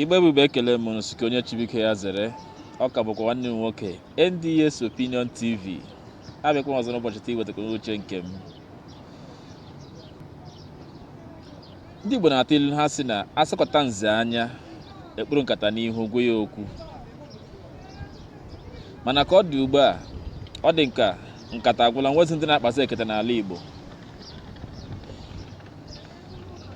Igbo bụ Igbo ekele m unu sị nke onye chi bụ nke ya zere ọ ka bụkwa nwanne m nwoke NDS Opinion TV abịakwa m ọzọ n'ụbọchị taa iwetakwa uche nke m ndị Igbo na-atụ ilu ha sị na asọkata nze anya ekpuru nkata n'ihu gwa ya okwu mana ka ọ dị ugbu a ọ dị m ka nkata agwụla enwezi ndị na-akpazi ekete n'ala Igbo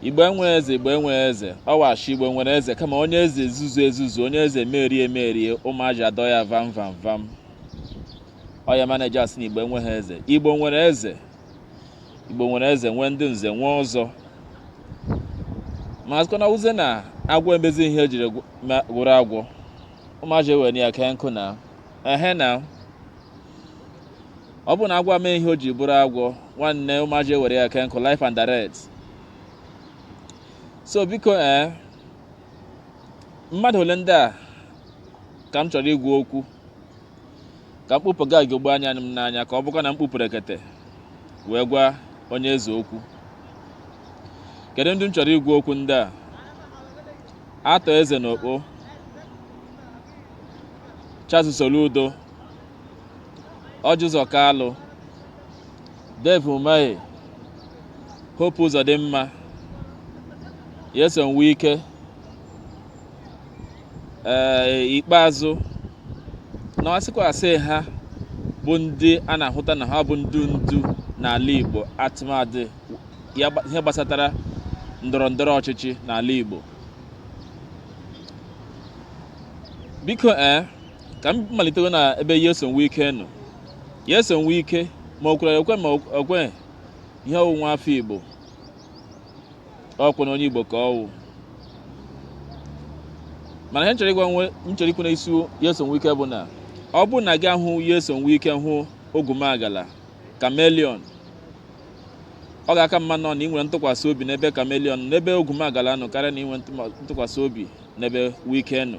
Igbo enweghị eze, Igbo enweghị eze. Ọ wụ ashị Igbo nwere eze kama onye eze ezuzu ezuzu, onye eze merie merie, ụmụaji adọ ya vam vam vam. Ọ ya mana eji asị na Igbo enweghị eze. Igbo nwere eze. Igbo nwere eze, nwee ndị nze, nwee ọzọ. Ma asịkwa na ọ wụzị na agwọ emezi ihe o jiri wụrụ agwọ. Ụmụaji ewere ya kee nkụ na. Ehe na. ọ bụrụ na agwọ mee ihe o ji bụrụ agwọ nwanne ụmụaji ewere ya kee nkụ live and direct so biko ee eh, mmadụ ole ndị a ka m chọrọ ịgwa okwu ka m kpụpụ ugogbe anya m n'anya ka ọ bụkwa na m kpụpụrụ ekete wee gwa onye eze okwu kedu ndị m chọrọ ịgwa okwu ndị a Arthur Eze na Ukpo Charles Soludo Orji Uzor Kalu Dave Umahi Hope Uzodimma Nyesom Wike ee ikpeazụ na asịkwa asị ha bụ ndị a na-ahụta na ha bụ ndị ndu n'ala Igbo tụmadị ya gba- ihe gbasatara ndọrọ ndọrọ ọchịchị n'ala Igbo biko ee ka m malitewe na ebe Nyesom Wike nọ Nyesom Wike ma o kwere ekwe ma o kweghị ihe ọ wụ nwa afọ Igbo ọkwa na onye Igbo ka ọ wụ mana ihe m chọrọ ịgwa m chọrọ ikwu na isi Nyesom Wike bụ na ọ bụrụ na gị ahụ Nyesom Wike hụ ogumagala chameleon ọ ga-aka mma nọ na i nwere ntụkwasị obi n'ebe chameleon n'ebe ogumagala nọ karịa na inwe ntụkwasị obi n'ebe Wike nọ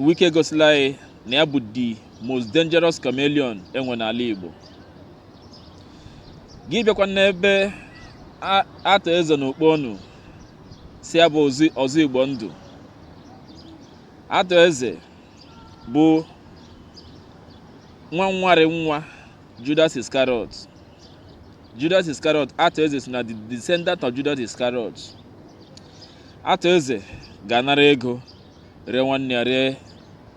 Wike egosila anyị na ya bụ the most dangerous chameleon e nwe n'ala Igbo gị bịakwa n'ebe Arthur Eze na Ukpo ọnụ sị ya bụ Ọzọ Igbo Ndụ Arthur Eze bụ nwa nwarị nwa Judas Iscariot Judas Iscariot Arthur Eze si na the descendant of Judas Iscariot Arthur Eze ga-anara ego ree nwanne ya ree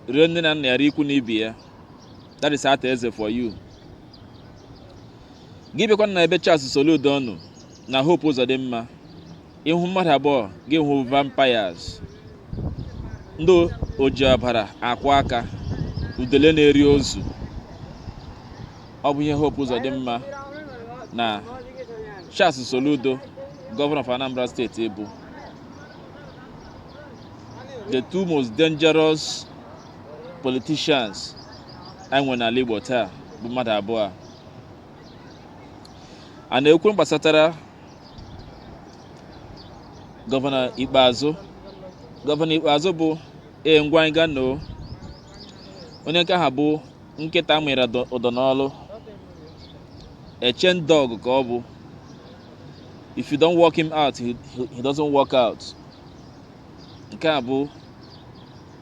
ree nne na nna ya ree ikwu na ibe ya that is Arthur Eze for you gị bịakwa na ebe Charles Soludo nọ na Hope Uzodimma ị hụ mmadụ abụọ gị ahụ vampires ndị oji ọbara akwọ aka udele na-eri ozu ọ bụ ihe Hope Uzodimma na Charles Soludo gọvanọ of Anambra State bụ the two most dangerous politicians e nwere n'ala Igbo taa bụ mmadụ abụọ a na-ekwu gbasatara gọvanọ ikpeazụ gọvanọ ikpeazụ bụ ee ngwa anyị ga noo onye nke ha bụ nkịta a mịra dọ- ụdọ n'olu a chain dog ka ọ bụ if you don't walk him out he, he, he doesn't walk out nke a bụ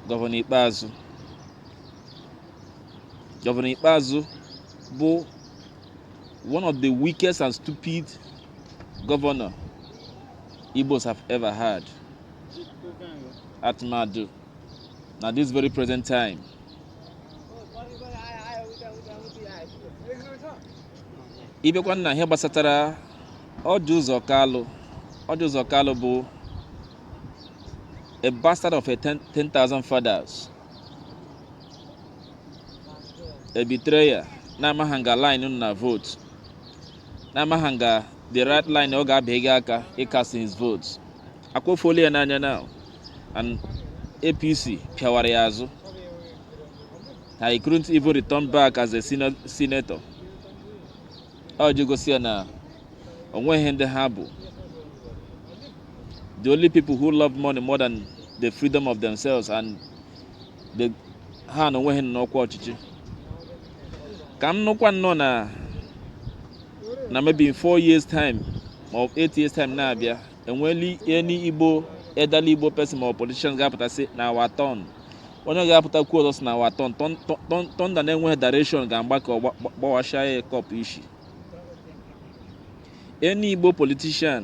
gọvanọ ikpeazụ gọvanọ ikpeazụ bụ one of the weakest and stupid governor Igbos have ever had. Atmadu. Now this very present time. Ị bịakwa na ihe gbasatara Orji Uzor Kalu Orji Uzor Kalu bụ a bastard of 10,000 fathers a betrayer na-amaghị nga line na vote na-amaghị nga the right line ọ ga-abịa gị aka ịcast his vote akwofuola ya n'anya now and APC pịawara ya azụ he couldn't even return back as a seno- senator e ji gosi ya na o nweghị ndị ha bụ the only people who love money more than the freedom of themselves and The- ha na onwe ha nọ n'ọkwa ọchịchị ka m nụkwa nnọọ na na maybe in four years time ma ọ bụ eight years time na-abịa enweli any igbo elderly igbo person ma ọ bụ politician ga-apụta sị na our turn onye ga-apụta kwuo ọzọ sị na our turn Thun- thun- thun- thunder na-enweghị direction ga-agba ka ọ gba- gba- gbawasha ya kọp ishi any igbo politician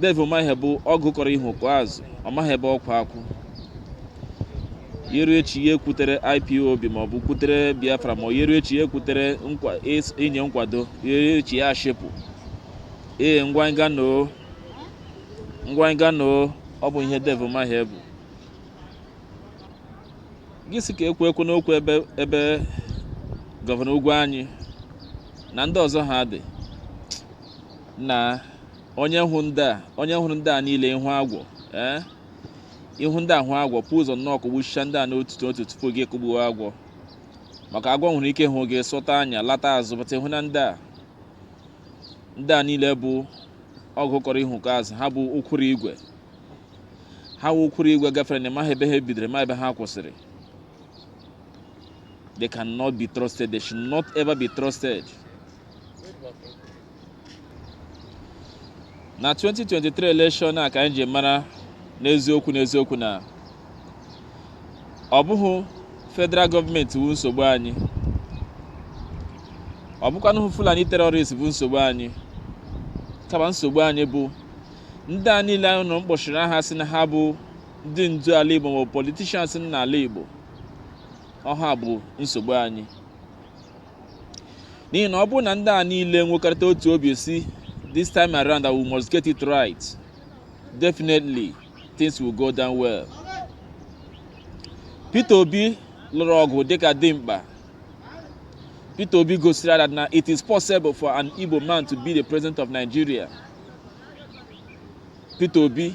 Dave Umahi bụ ọgụ kọrọ ihu kọọ azụ ọ maghị ebe ọkwa akwụ yeru echi ya ekwutere ipob ma ọ bụ kwutere biafra ma ọ yeru echi ya ekwutere nkwa- is- inye nkwado yeru echi ya ashepụ ee ngwa nga noo ngwa nga noo ọ bụ ihe Dave Umahi bụ gị sị ka ekwu ekwu n'okwu ebe ebe gọvanọ Ugwuanyị na ndị ọzọ ha dị na onye hụ ndị a onye hụrụ ndị a niile ị hụ agwọ ee ị hụ ndị a hụ agwọ bu ụzọ nnọọ kụgbuchicha ndị a n'otu n'otu tupu gị kụgbuo agwọ maka agwọ nwere ike hụ gị sọta anya lata azụ but ị hụ na ndị a ndị a niile bụ ọgụ kọrọ ihu kọọ azụ ha bụ ụkwụrụ igwe ha wụ ụkwụrụ igwe gafere na ị maghị ebe ha bidoro ma ebe ha kwụsịrị they cannot be trusted they should not ever be trusted na 2023 election a ka anyị ji mara n'eziokwu n'eziokwu na ọ bụghị federal gọọmenti bụ nsogbu anyị ọ bụkwanụghị fulani terrorist bụ nsogbu anyị kama nsogbu anyị bụ ndị a niile ị nụrụ m kpọchiri aha sị na ha bụ ndị ndu ala igbo ma ọ bụ politicians n'ala igbo ọ ha bụ nsogbu anyị n'ihi na ọ bụrụ na ndị a niile nwekọrịta otu obi sị this time around that we must get it right definitely things will go down well Peter Obi lụrụ ọgụ dịka dimkpa Peter Obi gosiri that na it is possible for an Igbo man to be the president of Nigeria Peter Obi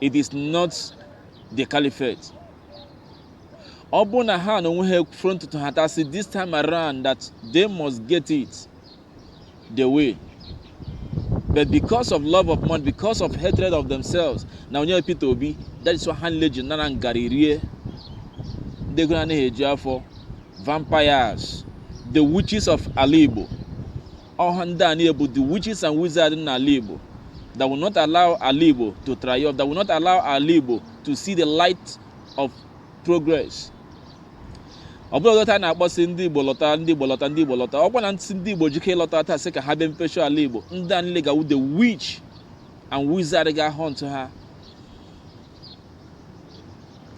it is not the caliphate ọ bụ na ha na onwe ha ekwufere ntutu ha ta sị this time around that they must get it the way but because of love of money because of hatred of themselves na onye Peter Obi that is why ha nile ji nara ngarị rie ndị ego anaghị eju afọ vampires the witches of ala Igbo ọ ha ndị a niile bụ the witches and wizards n'ala Igbo that will not allow ala Igbo to triumph that will not allow ala Igbo to see the light of progress ọ bụrụ ọzọ taa na-akpọ sị ndị Igbo lọta ndị Igbo lọta ndị Igbo lọta ọ kwa na ndị Igbo ji ike lọta taa sị ka ha bịa mepecha ala Igbo ndị a niile ga-awụ the witch and wizard ga hunt ha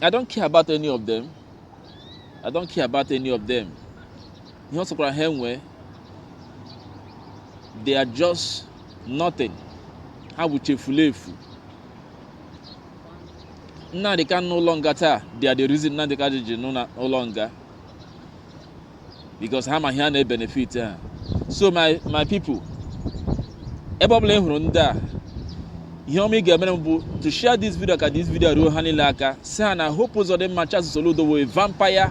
I don't care about any of them I don't care about any of them ihe ọ sọkwara ha enwee they are just nothing ha wụcha efulefu Nnamdi Kanu n'ụlọ nga taa they are the reason Nnamdi Kanu ji nọ n'ụlọ nga because ha ma ihe a na-ebenefit ha so my my people ebe ọbụla ị hụrụ ndị a ihe ọma ị ga-emere m bụ to share this video ka this video ruo ha niile aka sị ha na Hope Uzodimma Charles Soludo the vampire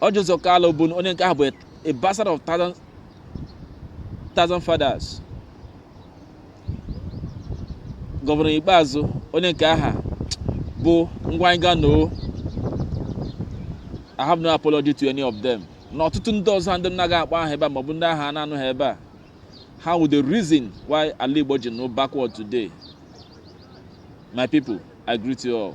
Orji Uzor Kalu bụ onye nke ahụ bụ a bastard of thousand fathers gọvanọ Ikpeazu onye nke aha bụ ngwa anyị ga noo I have no apology to any of them na ọtụtụ ndị ọzọ ndị m na-aga akpọ aha ebe a maọbụ ndị aha a na-anụ ha ebe a ha wụ the reason why ala Igbo ji nọ backward today my people I greet you all